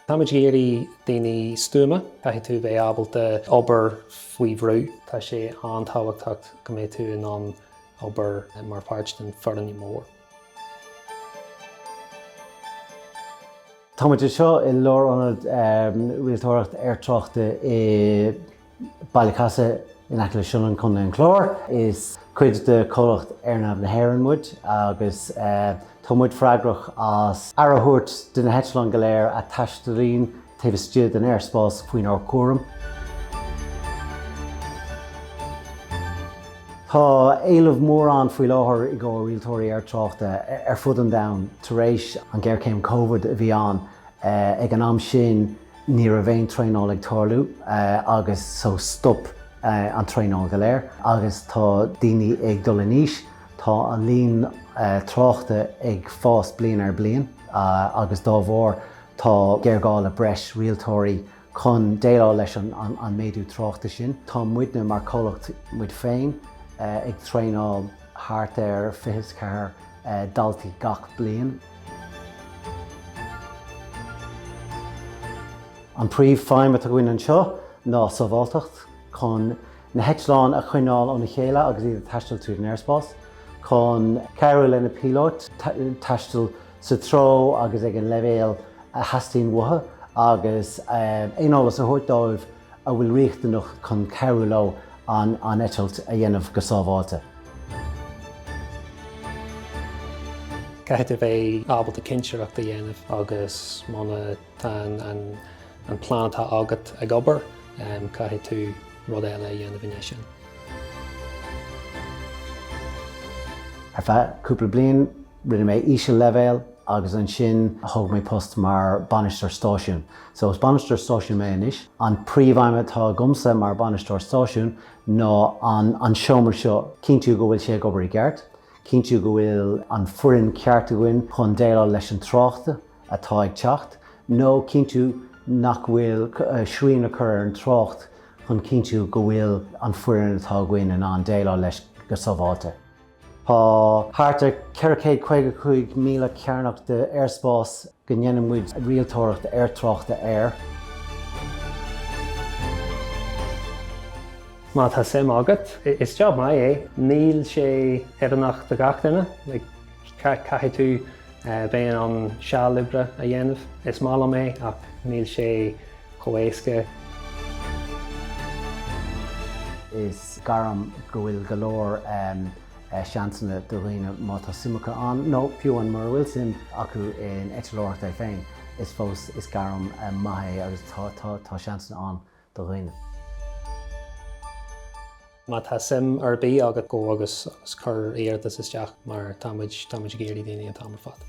Táimid ag iarraidh daoine stuama. Caithfidh tú bheith ábalta obair faoi bhrú. Tá sé an-tábhachtach go mbeidh tú in ann obair mar pháirt den foireann mór. Táimid anseo i lárionad rialtóireacht aertráchta i Ballycasey in aice le Sionainn, Co. an Chláir. Is cuid de chomhlacht AirNav na hÉireann muid agus tá muid freagrach as aire a thabhairt de na heitleáin go léir a taistealaíonn taobh istigh den aerspás faoinár gcúram. Tá éileamh mór ann faoi láthair i gcomhair rialtóirí aertráchta ar fud an domhain tar éis an ghéarchéim Covid a bhí ann ag an am sin. Ní raibh aon traenáil ag tarlú agus so stop an traenáil go léir agus tá daoine ag dul in aois, tá an líon tráchta ag fás bliain ar bliain agus dá bharr tá géarghá le breis rialtóirí chun déileáil leis an méadú tráchta sin. Tá muidne mar comhlacht muid féin ag traenáil thart ar 24 daltaí gach bliain. An príomh feidhm atá againn anseo ná sábháilteacht, chun na heitleáin a choinneáil óna chéile agus iad ag taisteal tríd an aerspás, chun cabhrú le na píolóit taisteal sa treo agus ag an leibhéal a theastaíonn uathu agus aon eolas a thabhairt dóibh a bhfuil riachtanach chun cabhrú leo an eitilt a dhéanamh go sábháilte. Caithfidh tú bheith ábalta cinnteoireacht a dhéanamh agus muna tá an plean atá agat ag obair, caithfidh tú rud eile a dhéanamh i ndiaidh sin. Ar feadh cúpla bliain, Rinne mé íseal-leibhéal agus ansin thug mé post mar bainisteoir stáisiún. So, is bainisteoir stáisiún mé anois. An príomhfheidhm atá agamsa mar bainisteoir stáisiún ná an seomra seo, cinntiú go bhfuil sé ag obair i gceart, cinntiú go bhfuil an foireann ceart againn chun déileáil leis an trácht atá ag teacht nó cinntiú nach bhfuil srian a chur ar an trácht chun cinntiú go bhfuil an foireann atá againn in ann déileáil leis go sábháilte. Tá thart ar 455,000 cearnach de aerspás go ndéanann muid rialtóireacht aertráchta air. Má tá suim agat, is job maith é. Níl sé oiriúnach do gach duine, caithfidh tú bheith in ann seal oibre a dhéanamh. Is maith liom é ach níl sé chomh héasca. Is gairm go bhfuil go leor seansanna do dhaoine má tá suim acu ann nó fiú amháin mura bhfuil suim acu in eitleoireacht é féin, is fós is gairm maith é agus tá seansanna ann do dhaoine. Má tá suim ar bith agat, gabh agus cuir iarratas isteach mar tá muid ag iarraidh daoine an t-am ar fad.